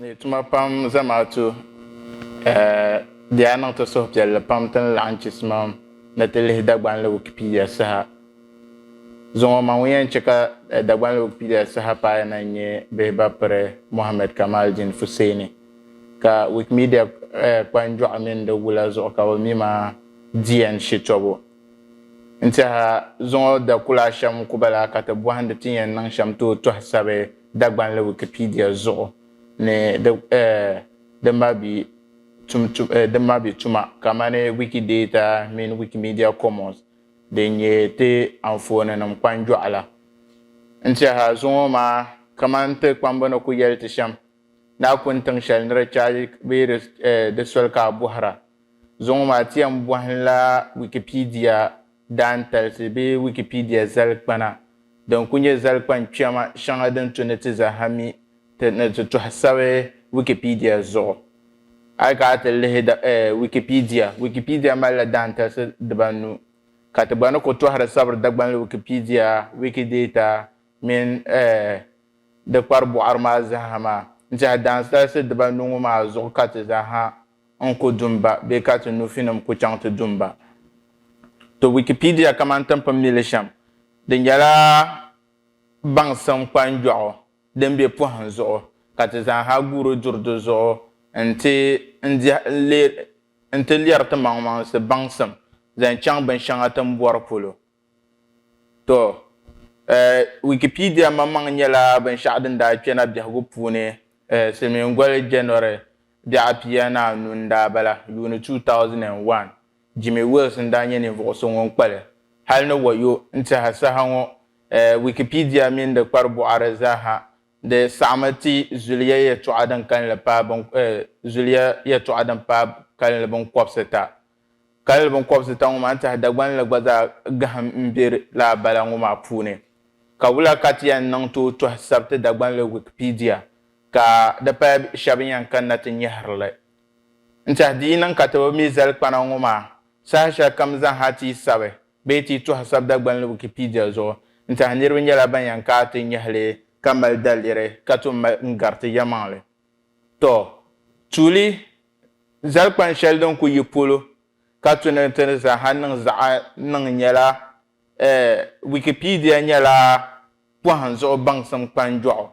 ni tuma pam zamaatu eh, di yaa niŋ ti suhupiɛlli pam ti ni laɣim chisimam ni ti lihi Dagbanli Wikipedia saha. Zuŋɔ man ŋun yɛn chɛ ka eh, Dagbanli Wikipedia saha paaya na n-nyɛ bihi ba piri Mohammed Kamaldeen Fuseni, ka Wikimedia eh, kpanjɔɣu mini di wula zuɣu ka o mi ma di yɛn shitɔbu. N-tɛha zuŋɔ dakula ashɛm ku bala ka ti bɔhindi ti ni yɛn niŋ shɛm tooi tɔhi sabi Dagbanli Wikipedia zuɣu ni di dimmabi dimmabi tuma kamani Wikidata mini Wikimedia Commons din nyɛ ti anfooninim kpanjɔɣu la. N-tɛha zuŋɔ maa kamani ti kpamba ni ku yɛli ti shɛm, Naakuni tiŋ shɛli ni di chaagi bee di soli ka a bɔhira. Zuŋɔ maa ti yɛn bɔhimla Wikipedia daantalisi bee Wikipedia zalikpana din ku nyɛ zalikpan kpɛma shɛŋa din tu ni ti zaha mi ti ni ti tɔhi sabi Wikipedia zuɣu. A yi kana ti lihi Wikipedia, Wikipedia malila daantalisi dibanu, ka ti gba ni ku tɔhiri sabiri Dagbanli Wikipedia, Wikidata mini di kpari bɔɣiri maa zaha maa n-tɛhi daantalisi dibanu ŋɔ maa zuɣu ka ti zaha n ku dum ba bee ka ti nufinim ku chaŋ ti dum ba. To Wikipedia kaman timpin mili shɛm, di nyɛla baŋsim kpanjɔɣu din be pɔhim zuɣu ka ti zaanha guuri duri di zuɣu nti n-leeri timaŋmaŋsi baŋsim zaŋ chaŋ binshɛŋa ti ni bɔri polo. Tɔ! Wikipedia maŋmaŋ nyɛla binshɛɣu din daa kpe na biɛhigu puuni silimiingoli January bɛɣu apia ni anu n-daa bala, yuuni 2001. Jimmy Wales n-daa nyɛ ninvuɣu so ŋun kpa li. Hali ni wayo n-tiɛha saha ŋɔ, Wikipedia mini di kparibɔɣiri zaaha di saɣimi ti zuliya yɛtɔɣa din kalinli paai zuliya yɛtɔɣa din paai kalinli binkɔbisita Kalli binkɔbisita ŋɔ maa n-tɛhi Dagbanli gba zaa gahim m-be lala bala ŋɔ maa puuni. Ka wula ka ti yɛn niŋ tooi tɔhi sabiti Dagbanli Wikipedia ka di paya shɛba yɛn kanna ti nyɛhiri li? N-tɛhi di yi niŋ ka ti bi mi zalikpana ŋɔ maa saha shɛli kam zaŋha ti yi sabi bee ti yi tɔhi sabi Dagbanli Wikipedia zuɣu n-tɛhi niriba nyɛla ban yɛn kaai ti nyɛhi li ka mali daliri ka tom mali n-gari ti yɛlimaŋli. Tɔ! Tuuli Zali kpan shɛli din ku yi polo ka tu ni ti ni zaaha niŋ zaɣ niŋ nyɛla, Wikipedia nyɛla pɔhim zuɣu baŋsim kpanjɔɣu.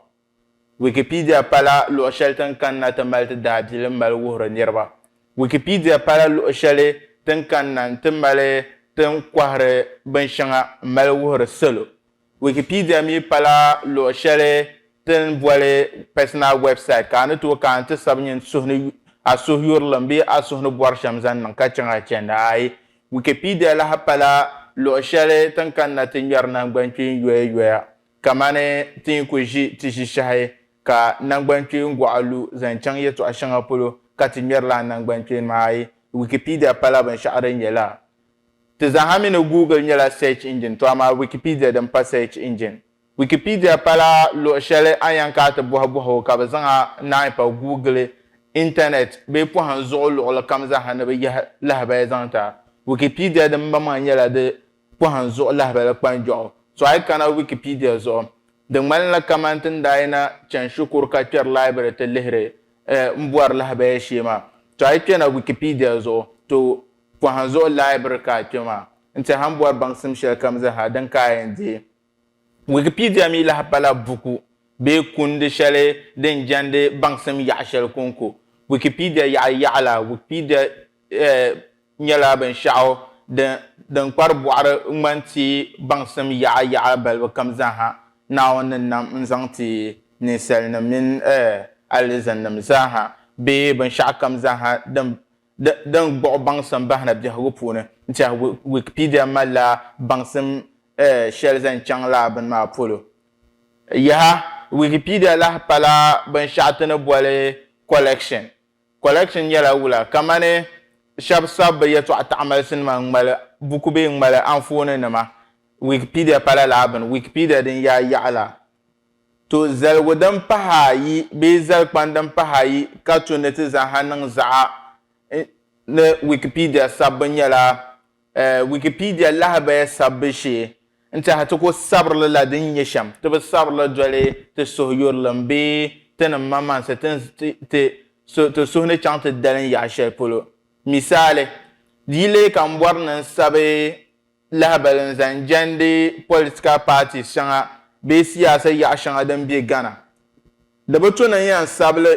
Wikipedia pala luɣ shɛli ti ni kanna ti mali ti daabilim mali wuhiri niriba. Wikipedia pala luɣ shɛli ti ni kanna nti mali ti ni kɔhiri binshɛŋa m-mali wuhiri salo. Wikipedia mi pala luɣ shɛli ti ni boli personal website ka a ni tooi ka a ni ti sabi nyin suhu ni a suhuyurlim bee a suhu ni bɔri shɛm zaŋ niŋ ka chaŋ a chɛndi ayi. Wikipedia lahi pala luɣ shɛli ti ni kanna ti ŋmɛri naŋgbankpeeŋ yoya yoya kamani ti ni ku ʒi ti ʒishɛhi ka naŋgbankpeeŋ gɔɣa lu zaŋ chaŋ yɛtɔɣ shɛŋa polo ka ti ŋmɛri lala naŋgbankpeeni maa ayi. Wikipedia pala binshɛɣu din nyɛla. Ti zaaha mi ni Google nyɛla search engine to amaa Wikipedia din pa search engine. Wikipedia pala luɣi shɛli a ni yɛn kana ti bɔhi bɔhigu ka bɛ zaŋ a naai pa Google, Internet bee pɔhim zuɣu luɣili kam zaaha ni bɛ yahi lahabali zaŋ ti a. Wikipedia din maŋmaŋ nyɛla di pɔhim zuɣu lahabali kpanjɔɣu. So a yi kana Wikipedia zuɣu, di ŋmanila kamani ti ni daa yina chani shikuru ka kpɛri library ti lihiri n bɔri lahabali shee maa. To a yi kpɛna Wikipedia zuɣu, to Pɔhim zuɣu laibiri ka a kpe maa n-ti a ni bɔri baŋsim shɛlikam zaa din ka a yɛn deei. Wikipedia mi lahi pala buku bee kundi shɛli din jɛndi baŋsim yaɣa shɛli kɔŋko. Wikipedia yaɣa yaɣa la, Wikipedia nyɛla binshɛɣu din kpari bɔɣiri ŋmani ti baŋsim yaɣa yaɣa balibu kam zaa ha Naawuni ni nam n-zaŋ ti ninsalinim mini alizannim zaa ha bee binshɛɣu kam zaa ha din di din gbuɣi baŋsim bahina biɛhigu puuni n-tɛhi Wikipedia malila baŋsim shɛli zaŋ chaŋ lala bini maa polo. Yaha! Wikipedia lahi pala binshɛɣu ti ni boli collection. Collection nyɛla wula kamani shɛba sabi bɛ yɛtɔɣ taɣimalisinima ŋ-mali buku bee ŋ-mali anfooninima. Wikipedia pala lala bini. Wikipedia din yaai yaɣa la To zaligu din pah ayi bee zalikpani din pah ayi ka to ni ti zaŋ ha niŋ zaɣa ni Wikipedia sabbu nyɛla Wikipedia lahabaya sabbu shee n-tɛha ti ko sabirili la din nyɛ shɛm ti bi sabirili doli ti suhuyurilim bee ti ni maŋmaŋsi ti suhu ni chaŋ ti dalim yaɣ shɛli polo. Misali, di yi leei ka m bɔri ni n sabi lahabali n zaŋ jandi political parties shɛŋa bee siyaasa yaɣa shɛŋa din be Ghana. Di bi to ni n yɛn sabili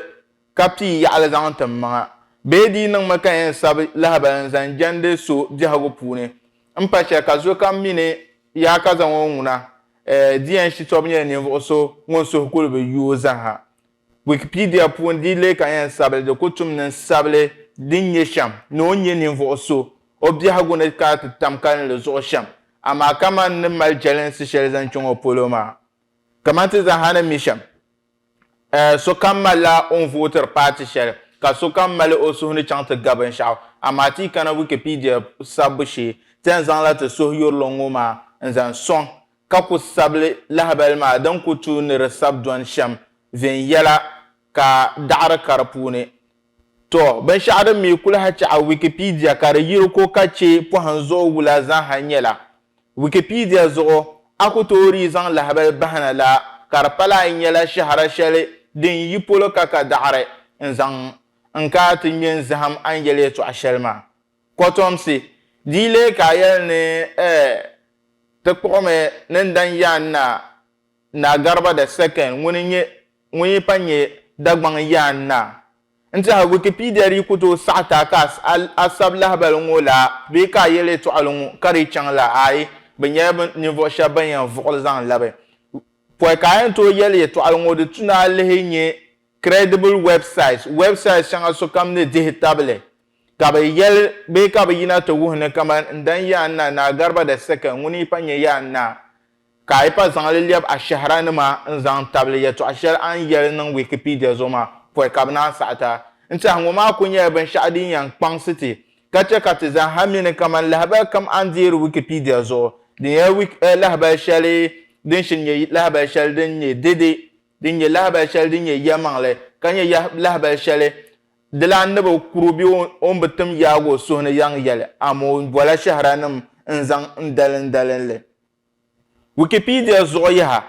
ka pii yaɣili zaŋ tim maŋa bee di yi niŋmi ka n yɛn sabi lahabali n zaŋ jandi so biɛhigu puuni m pa shɛli ka zo kam mi ni yaa ka zaŋ o ŋuna eh di yɛn shitɔbu nyɛla ninvuɣu so ŋun suhu kuli bi yuui zaha. Wikipedia puuni di leei ka yɛn sabili di ku tum ni sabili din nyɛ shɛm ni o nyɛ ninvuɣu so o biɛhigu ni kana ti tam kalinli zuɣu shɛm amaa kaman n ni mali jɛlinsi shɛli zaŋ chaŋ o polo maa. Kaman ti zaaha ni mi shɛm, sokam malila o ni vootiri paati shɛli ka sokam mali o suhu ni chaŋ ti ga binshɛɣu amaa ti yi kana Wikipedia sabbu shee ti yɛn zaŋla ti suhuyurili ŋɔ maa n-zaŋ sɔŋ ka ku sabili lahibali maa din ku tuui ni di sabi dɔni shɛm viɛnyɛla ka daɣiri ka di puuni. Tɔ, binshɛɣu din mi ku lahi chaɣi Wikipedia ka di yiri ko ka chɛ pɔhim zuɣu wula zaaha nyɛla, Wikipedia zuɣu a ku toori yi zaŋ lahibali bahi na la ka di pala a yi nyɛla shɛhira shɛli din yi polo ka ka daɣiri n zaŋ n-kaai ti ŋme n-zahim a ni yɛli yɛtɔɣ shɛli maa. Kotomsi, di yi leei ka a yɛli ni eh ti kpuɣimi ni n dan yaan na Naa Garba the Second ŋuni n-nyɛ ŋun yi pa nyɛ Dagbaŋ yaan na. N tɛha Wikipedia di yi ku tooi saɣi ti a ka a sabi lahibali ŋɔ la bee ka a yɛli yɛtɔɣili ŋɔ ka di chaŋ la aai bɛ nyɛla bɛ ninvuɣ shɛba bɛn yɛn vuɣili zaŋ labi pɔi ka a yɛn tooi yɛli yɛtɔɣili ŋɔ di tu ni a lihi nyɛ credible websites websites shɛŋa sokam ni dihi tabili Ka bɛ yɛli, Bee ka bɛ yina ti wuhi ni kaman n dan yaa n na Naa Gariba da Seke ŋun yi pa nyɛ yaa n naa, ka a yi pa zaŋ li lɛb ashɛhiranima n-zaŋ tabili yɛtɔɣ shɛli a ni yɛli niŋ Wikipedia zuɣu maa, pɔi ka bɛ naan saɣi ti a. N tɛha ŋɔ maa kul nyɛla binshɛɣu din yɛn kpaŋsi ti ka chɛ ka ti zaa ha mi ni kaman lahibal kam a ni deeri Wikipedia zuɣu, di nyɛla wik eh lahibal shɛli din shiri nyɛ lahibal shɛli din nyɛ dede, din nyɛ lahibal shɛli din nyɛ yɛlimaŋli, ka nyɛ yah lahibal shɛli Dilan ni bi kuru bɛ o ni bi tim yaag o suhu ni yaŋ yɛli, amoo n bɔla shɛhiranim n zaŋ n dalindalin li. Wikipedia zuɣu yaha,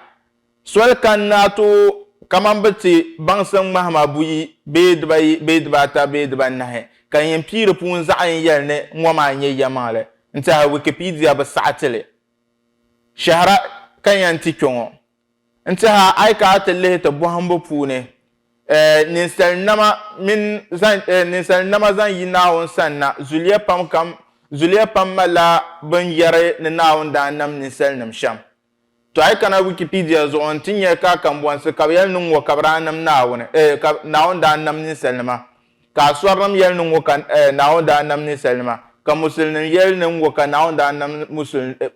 Soli kani ni a tooi kamani bi ti baŋsim ŋmahima buyi bee dibayi bee dibaata bee dibaanahi, ka yin pii di puuni zaɣ yini yɛli ni ŋɔ maa n-nyɛ yɛlimaŋli n-tɛhiri Wikipedia bi saɣi ti li shɛhira ka yɛn ti kpe ŋɔ. N tiha a yi ka a ti lihi ti bɔhimbu puuni, ninsalinama mini ninsalinama zaŋ yi Naawuni sanna, zuliya pam kam, zuliya pam malila bɛn yɛri ni Naawuni daa nam ninsalinim shɛm. Tɔ a yi kana Wikipedia zuɣu n-ti nya ka kambɔnsi ka bɛ yɛli ni ŋ-ŋɔ ka bɛ daa nam Naawuni, ka Naawuni daa nam ninsalinima, ka Asɔrinim yɛli ni ŋ-ŋɔ ka Naawuni daa nam ninsalinima, ka Musulinim yɛli ni ŋ-ŋɔ ka Naawuni daa nam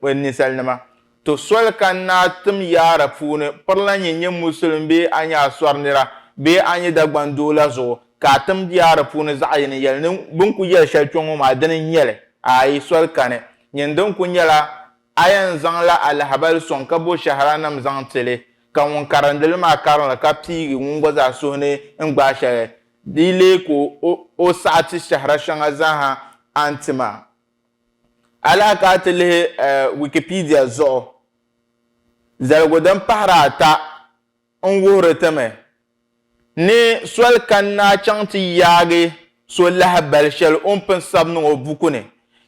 ninsalinima. To soli ka n naa tim yaara puuni pirila nyin nyɛ Musulim bee a nyɛ Asɔri nira bee a nyɛ Dagban doo la zuɣu ka a tim yaara puuni zaɣ yini yɛli ni bɛ ni ku yɛli shɛli kpe ŋɔ maa dini n-nyɛ li? Aai, soli kani nyin din ku nyɛla a yɛn zaŋla alahabali sɔŋ ka bo shɛhiranim zaŋ ti li ka ŋun karindi li maa karin li ka piigi ŋun gba zaa suhu ni n gbaai shɛli di yi leei ka o saɣiti shɛhira shɛŋa zaa ha a ni ti maa. A lahi ka a ti lihi Wikipedia zuɣu, zaligu din pahiri ata n-wuhiri ti mi ni soli kani ni a chaŋ ti yaagi so lahabali shɛli o ni pun sabi niŋ o buku ni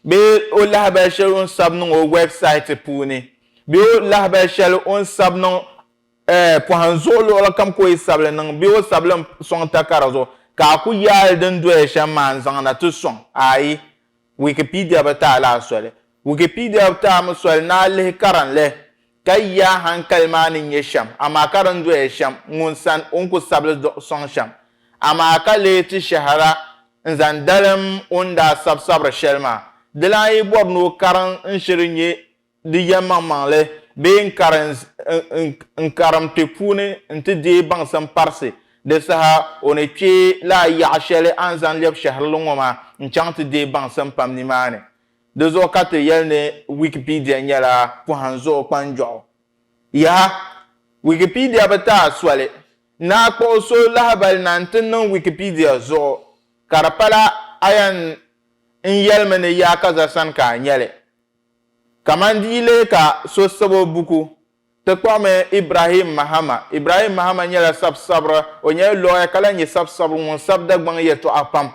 bee o lahabali shɛli o ni sabi niŋ o wɛbsaiti puuni bee o lahabali shɛli o ni sabi niŋ pɔhim zuɣu luɣili kam ka o yi sabi li niŋ bee o sabi li sɔŋ takara zuɣu ka a ku yaai li din doya shɛm maa n-zaŋ na ti sɔŋ, ayi. Wikipedia bi taai laa soli. Wikipedia bi taai mi soli ni a lihi karinli ka yi a hankali maa ni nyɛ shɛm amaa ka din doya shɛm ŋun san o ni ku sabili duɣi sɔŋ shɛm amaa ka lee ti shɛhira n-zaŋ dalim o ni daa sabi sabiri shɛli maa. Di lan yi bɔri ni o karin n-shiri nyɛ di yɛlimaŋmaŋli bee n kari n karim ti puuni nti deei baŋsim parisi, di saha o ni kpe lala yaɣa shɛli a ni zaŋ lɛbi shɛhirili ŋɔ maa n-chaŋ ti deei baŋsim pam nimaani. Di zuɣu ka ti yɛli ni Wikipedia nyɛla pɔhim zuɣu kpanjɔɣu. Yaha! Wikipedia bi taai soli. Naa kpuɣi so lahibali na nti niŋ Wikipedia zuɣu, ka di pala a yɛn n yɛlimi ni yaakaza sani ka a nyɛli. Kaman di yi leei ka so sab o buku, ti kpuɣimi Ibrahim Mahama. Ibrahim Mahama nyɛla sab sabiri, o nyɛla lɔya ka lahi nyɛ sab sabiri ŋun sab Dagbaŋ yɛltɔɣa pam.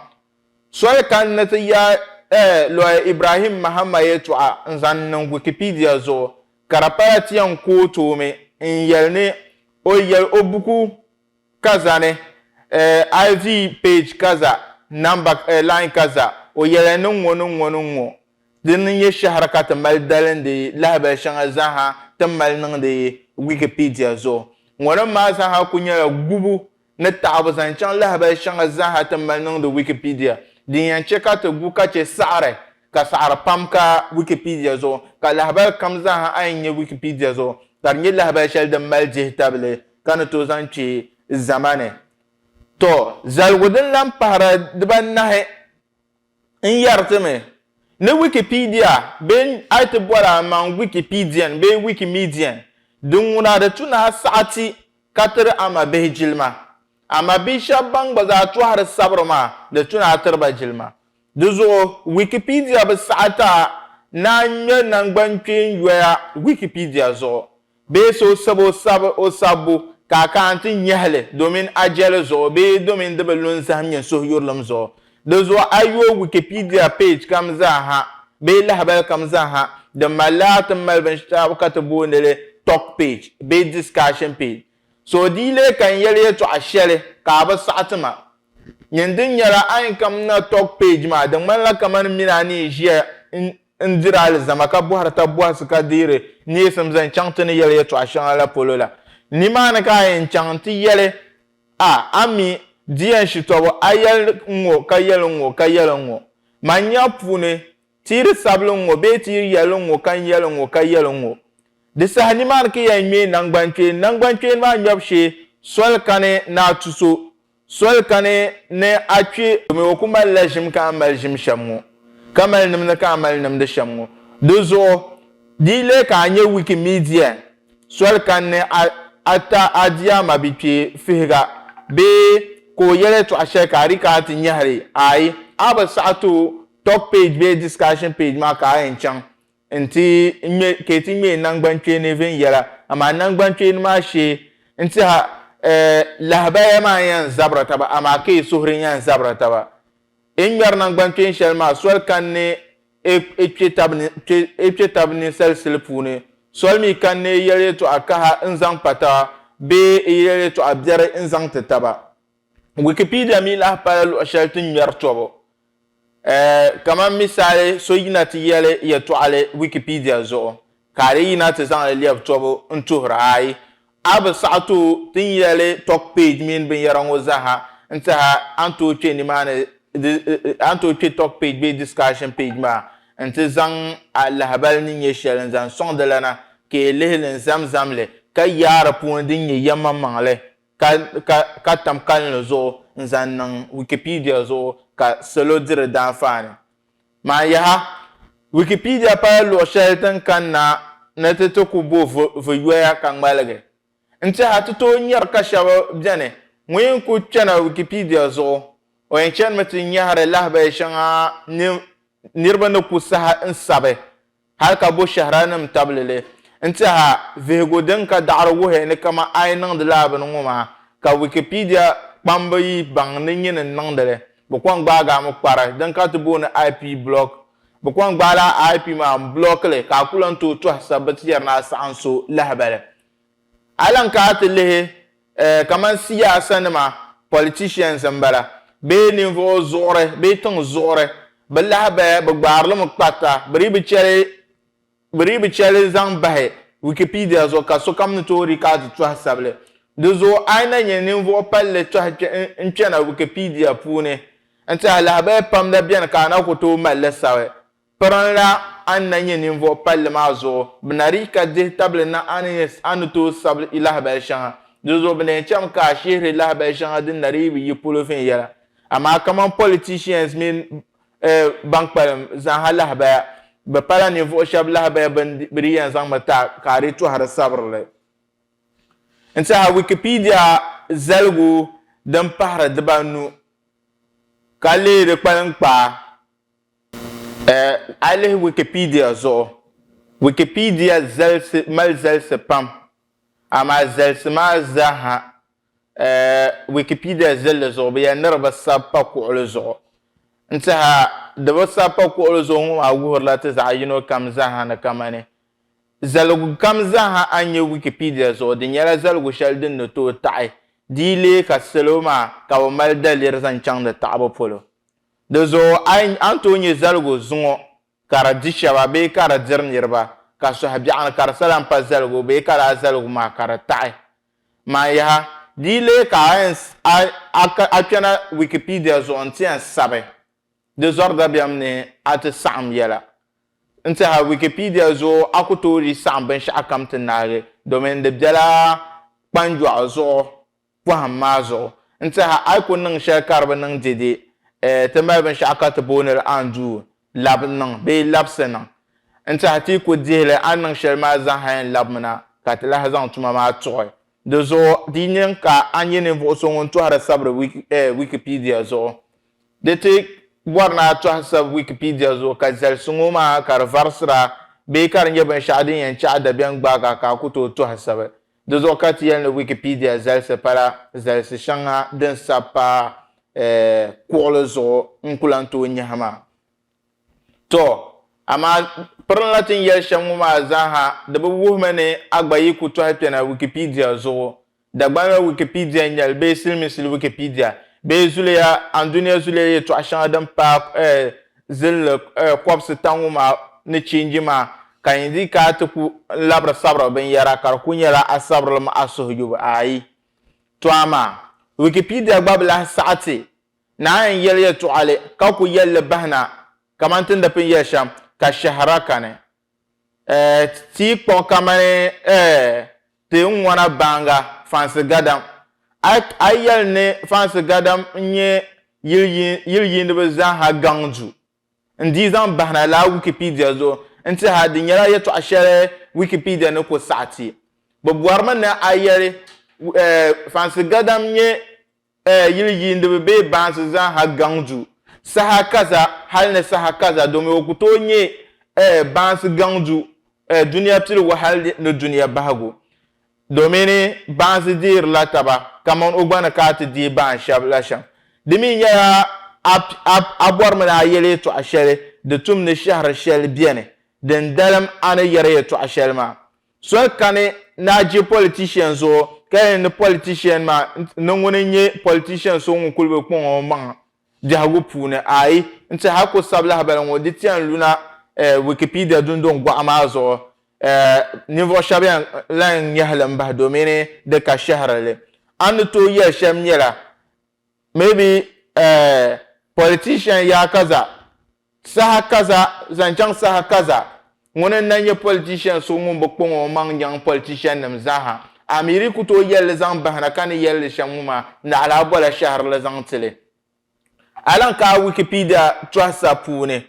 Soli ka n ni ti yaai lɔya Ibrahim Mahama yɛltɔɣa n-zaŋ niŋ Wikipedia zuɣu, ka di pala ti yɛn ku o toomi n-yɛli ni o yɛli o buku ka zani eh, iv page kaza namba eh, line kaza o yɛli ni ŋɔ ni ŋɔ ni ŋɔ dini n-nyɛ shɛhira ka ti mali dalindi lahabali shɛŋa zaaha ti mali niŋdi Wikipedia zuɣu ŋɔnim maa zaaha kuli nyɛla gubu ni taɣibu zaŋ chaŋ lahabali shɛŋa zaaha ti mali niŋdi Wikipedia din yɛn chɛ ka ti gu ka chɛ saɣiri ka saɣiri pam ka Wikipedia zuɣu ka lahabali kam zaaha a yi nya Wikipedia zuɣu ka di nyɛ lahabali shɛli din mali dihitabili ka ni tooi zaŋ kpe zama ni. Tɔ! Zaligu din lan pahira dibaanahi n-yɛri ti mi ni Wikipedia bee a yi ti boli a maŋ Wikipedian bee Wikimedian, di ŋuna di tu ni a saɣi ti ka tiri a mabihi jilima. A mabihi shɛba ban gba zaa tɔhiri sabiri maa, di tu ni a tiri ba jilima. Di zuɣu Wikipedia bi saɣi ti a naan ŋme naŋgbankpeenyoya Wikipedia zuɣu bee so sab o sab o sabbu ka a ka a nti nyɛhi li domin a jɛli zuɣu bee domin di bi lu n zahim nyin suhuyurilim zuɣu. Di zuɣu a yooi Wikipedia page kam zaa ha bee lahabali kam zaa ha din mali laa ti mali binshɛɣu ka ti booni li talk page bee discussion page So o dii lee kan yɛli yɛtɔɣa shɛli ka a bi saɣi ti ma. Nyin din nyɛla a ni kam na tɔg page maa, di ŋmanila kamani min a ni yi ʒiya n diri alizama ka bɔhiri tab bɔhisi ka deeri neesim zaŋ chaŋ ti ni yɛli yɛtɔɣa shɛŋa la polo la. Nimaani ka a yɛn chaŋ nti yɛli a, a mi, di yɛn shitɔbu, a yɛli n ŋɔ ka yɛli n ŋɔ ka yɛli n ŋɔ. Man nya puuni Tiri sabili ŋ-ŋɔ bee tiri yɛli ŋ-ŋɔ ka n yɛli ŋ-ŋɔ ka yɛli ŋ-ŋɔ. Di saha nimaani ka yɛn ŋme naŋgbankpeeni. Naŋgbankpeeni maa ŋmɛbu shee soli kani ni a tu so, soli kani ni a kpe domi o ku mali la ʒim ka a mali ʒim shɛm ŋɔ, ka mali nimdi ka a mali nimdi shɛm ŋɔ. Di zuɣu di yi leei ka a nya Wikimedia soli kani ni a a ta a diaa mabikpe fihiga bee ka o yɛl yɛtɔɣ shɛli ka a di ka a ti nyɛhiri ayi, a bi saɣi ti o. Talk page bee discussion page maa ka a yɛn chaŋ nti ŋme ka yi ti ŋmee nangbankpeeni viɛnyɛla, amaa nangbankpeeni maa shee nti ha eh, lahabaya maa n-yɛn zabira taba amaa ka yi suhuri n-yɛn zabira taba. Yi ni ŋmɛri nangbankpeeni shɛli maa soli kani ni e e kpe tab ni kpe e kpe tab ninsali sili puuni, soli mi kani ni e yɛli yɛtɔɣa kaha n-zaŋ pa taba bee e yɛli yɛtɔɣa biɛri n-zaŋ ti taba. Wikipedia mi lahi pala luɣ shɛli ti ŋmɛri tɔbu. Kaman misali so yina ti yɛli yɛtɔɣili Wikipedia zuɣu ka a lee yina ti zaŋ li lɛbi tɔbu n-tuhir a ayi, a bi saɣi tooi ti ni yɛli talk page mini binyɛra ŋɔ zaaha n-tiha a ni tooi kpe nimaani a ni tooi kpe talk page bee discussion page maa nti zaŋ a lahibali ni nyɛ shɛli n-zaŋ sɔŋ di lana ka yi lihi li n-zam zam li ka yaai di puuni din nyɛ yɛmmaŋmaŋ li. ka, ka, ka tam kalinli zuɣu n-zaŋ niŋ Wikipedia zuɣu ka salo di di daanfaani. Maa yaha, Wikipedia pala luɣ shɛli tin kan na ni ti ti ku bo vi, vi yoya ka ŋmaligi. N-teha ti tooi nyari ka shɛb beni ŋun yɛn ku kpɛna Wikipedia zuɣu, o yɛn chanimi ti nyɛhiri lahabali shɛŋa ni niriba ni ku sahi n-sabi. Hal ka bo shɛhiranim tabili li n-tɛha vihigu din ka daɣiri wuhi ni kama a yi niŋdi lala bini ŋɔ maa, ka Wikipedia kpamba yi baŋ ni nyini n-niŋdi li, bɛ kɔŋ gbaagi a mi kpari din ka ti booni IP block. Bɛ kɔŋ gbaala a IP maa m-block li ka a ku lan tooi tɔhi sabbiti yɛri ni a saɣim so lahibali. A lan kana ti lihi Eh, kaman siyaasa nima, politicians n bala, bee ninvuɣu zuɣuri bee tiŋ zuɣuri, bi lahi bahi, bi gbaari li mi kparita, bi dii bi cheli bi dii bi cheli zaŋ bahi Wikipedia zuɣu ka sokam ni tooi di ka a ti tɔhi sabili. Di zuɣu a yi na nyɛ ninvuɣu palli tɔhi kpe n kpena Wikipedia puuni n tihi lahabaya pam la beni ka a na ku tooi mali li sabi Pirinla a ni na nyɛ ninvuɣ palli maa zuɣu, bɛ na di ka dihi tabili na a ni a ni tooi sabi i lahabal shɛŋa. Di zuɣu bɛ lee cham ka a shihiri lahabal shɛŋa din na di yi bi yi polo viɛnyɛla. Amaa kaman politicians mini ban kpalim zaaha lahabaya, bɛ pala ninvuɣ shɛb lahabaya bɛn bi di yɛn zaŋmi ti a ka a di tɔhiri sabiri li. N tɛha Wikipedia zaligu din pahiri dibanu ka leei di kpaliŋkpaa. A yi lihi Wikipedia zuɣu, Wikipedia zalisi mali zalisi pam, amaa zalisi maa zaaha Wikipedia zilli zuɣu bi yɛli ni di bi sabi pa kuɣili zuɣu. N-tiɛha di bi sabi pa kuɣili zuɣu ŋɔ maa wuhirila ti zaɣ yino kam zaaha ni kamani zaligu kam zaaha a ni nya Wikipedia zuɣu di nyɛla zaligu shɛli din ni tooi taɣi di yi leei ka salo maa ka bi mali daliri zaŋ chaŋdi taɣibu polo. Di zuɣu a ni tooi nyɛ zaligu zuŋɔ ka di di shɛba bee ka di diri niriba, ka sɔhi biɛɣu ni ka di sala m-pa zaligu bee ka laa zaligu maa ka di taɣi man yaha. Di yi leei ka a kpɛna Wikipedia zuɣu nti yɛn sabi di zɔri dabiɛm ni a ti saɣim yɛla. N tɛha Wikipedia zuɣu a ku tooi dii saɣim binshɛɣukam ti naagi domin di bela kpanjɔɣu zuɣu pɔhim maa zuɣu. N tɛha a yi ku niŋ shɛli ka di bi niŋ dɛde, eh, ti mali binshɛɣu ka ti booni li anduu, labi niŋ bee labisi niŋ. N tɛha ti yi ku dihi li a ni niŋ shɛli maa zaŋ hal n-labimina ka ti lahi zaŋ tuma maa tuɣi. Di zuɣu, di yi niŋ ka a nyɛ ninvuɣ so ŋun tɔhiri sabiri wiki, eh, Wikipedia zuɣu, di ti bɔri ni a tɔhi sabi Wikipedia zuɣu ka zalisi ŋɔ maa ka di varisira bee ka di nyɛ binshɛɣu din yɛn chaɣi dabiɛm gbaaga ka a ku tooi tɔhi sabi. Di zuɣu ka ti yɛli ni Wikipedia zalisi pala zalisi shɛŋa din sabi pa kuɣili zuɣu n-ku lan tooi nyahi maa. Tɔ! Amaa pirinla ti ni yɛli shɛm ŋɔ maa zaa ha di bi wuhimi ni a gba yi ku tɔhi kpɛna Wikipedia zuɣu. Dagbanli Wikipedia n-nyɛli bee siliminsili Wikipedia bee zuliya Andunia zuliya yɛtɔɣ shɛŋa din paai zinli kɔbisi ta ŋɔ maa ni change maa ka yi di ka ti ku labiri sabiri binyɛra ka di ku nyɛla a sabirilim a suhuyubu ayi. To amaa, Wikipedia gba bi lahi saɣi ti naan yi yɛli yɛltɔɣali ka ku yɛli li bahi na kamani ti ni di pini yɛli shɛm ka shɛhira kani. Ti yi kpuɣi kamani ti ni ŋɔna baŋga Fansi Gadam, a yi yɛli ni Fansi Gadam n-nyɛ yili yiiniba zaaha gaŋ du. N dii zaŋ bahina lala Wikipedia zuɣu n-tiha di nyɛla yɛltɔɣa shɛli Wikipedia ni ku saɣiti. Bɛ bɔrimi ni a yɛli Fansi Gadam nyɛ Ɛɛ, yili yiindiba bee baansi zaaha gaŋ du saha kaza hali ni saha kaza domi o ku tooi nyɛ, ɛɛ, baansi gaŋ du, ɛɛ, dunia piligu hali ni dunia bahigu domin baansi deerila taba kaman o gba ni ka a ti deei baan shɛb la shɛm. Di mi nyɛla a, a, a bɔri mi ni a yɛli yɛtɔɣ shɛli di tum ni shɛhiri shɛli beni din dalim a ni yɛri yɛtɔɣ shɛli maa. Soli kani naa je politician zuɣu ka yɛn ni politician maa ni ŋuni n-nyɛ politician so ŋun kuli bi kpuŋ o maŋa biɛhigu puuni? Aai! N ti hal ku sabi lahibali ŋɔ di ti yɛn lu na eh Wikipedia dundɔŋ gɔɣa maa zuɣu eh ninvuɣ shɛba yɛn lahi ŋ-ŋmɛhi li m-bahi domini di ka shɛhiri li. A ni tooi yɛli shɛm nyɛla, maybe eh, politician yaa kaza saha kaza zaŋ chaŋ saha kaza ŋuni n na nyɛ politician so ŋun bi kpaŋ o maŋ nyaŋ politician nim zaaha amiri ku tooi yɛli li zaŋ bahina ka ni yɛli li shɛm ŋɔ maa naɣila a bola shɛhirili zaŋ tili a lan ka a wikipedia tɔhisa puuni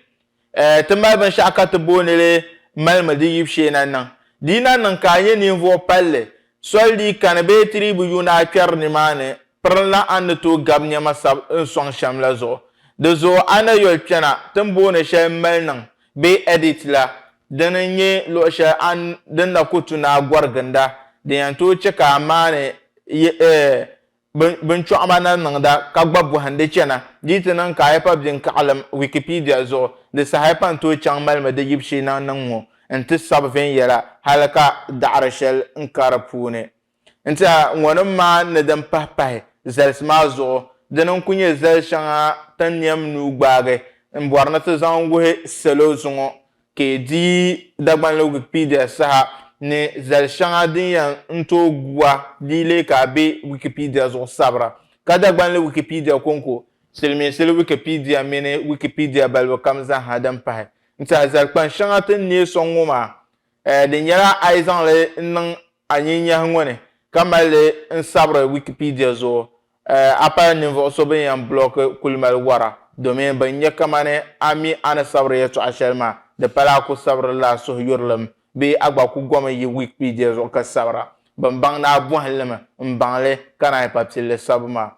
Eh, ti mali binshɛɣu ka ti booni li malimi di yib shee na niŋ. Di yi na niŋ ka a nyɛ ninvuɣ palli, soli di yi kani bee ti dii bi yuun a kpɛri nimaani, pirinla a ni tooi gabi nɛma sab n sɔŋ shɛm la zuɣu. Di zuɣu a na yoli kpɛna ti ni booni shɛli m mali niŋ bee edit la, dini n-nyɛ luɣ shɛli a ni din na ku tu ni a gɔri ginda din yɛn tooi chɛ ka a maani yi eh binchɔɣuma na niŋda ka gba bɔhindi chana. Di yi ti niŋ ka a yi pa binkaɣilim Wikipedia zuɣu, di saha pa n-tooi chaŋ malimi di yibu shee naŋ niŋ ŋɔ nti sabi viɛnyɛla hali ka daɣiri shɛli n-ka di puuni. N-tiɛha ŋɔnim maa ni din pahi pahi zalisi maa zuɣu, dini n-kul nyɛ zali shɛŋa tin niɛm nuu gbaagi m-bɔri ni ti zaŋ wuhi salo zuŋɔ ka yi di Dagbanli Wikipedia saha ni zali shɛŋa din yɛn n tooi gu a di leei ka a be Wikipedia zuɣu sabira ka Dagbanli Wikipedia kɔŋko, Silimiinsili Wikipedia mini Wikipedia balibu kam zaaha din pahi n tiɛhi zali kpaŋ shɛŋa ti ni neei sɔŋ ŋɔ maa eh di nyɛla a yi zaŋ li n niŋ a nyinyahi ŋɔ ni ka mali li n sabiri Wikipedia zuɣu A pala ninvuɣ so bɛ ni yɛn bulɔki kuli mali wara, domin bɛ ni nya kamani a mi a ni sabiri yɛtɔɣ shɛli maa, di pala a ku sabiri li a suhuyurlim bee a gba ku gomi yi Wikipedia zuɣu ka sabira. Bɛ ni baŋ ni a bɔhi li mi, m-baŋ li, ka naanyi pa pilli sabu maa.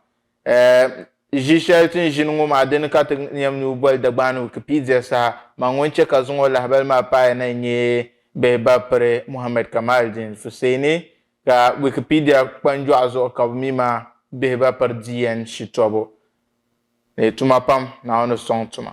Ʒi shɛli ti ni ʒini ŋɔ maa, di ni ka ti yɛm ni o boli Dagbaani Wikipedia saha, man ŋun chɛ ka zaŋ o lahibali maa paai na n-nyɛ Bihibaapire Muhammad Kamaldeen Fuseeni Ka Wikipedia kpanjɔɣu zuɣu ka bɛ mi ma bihi ba piri DN shitɔbu ni tuma pam, Naawuni ni sɔŋ tuma.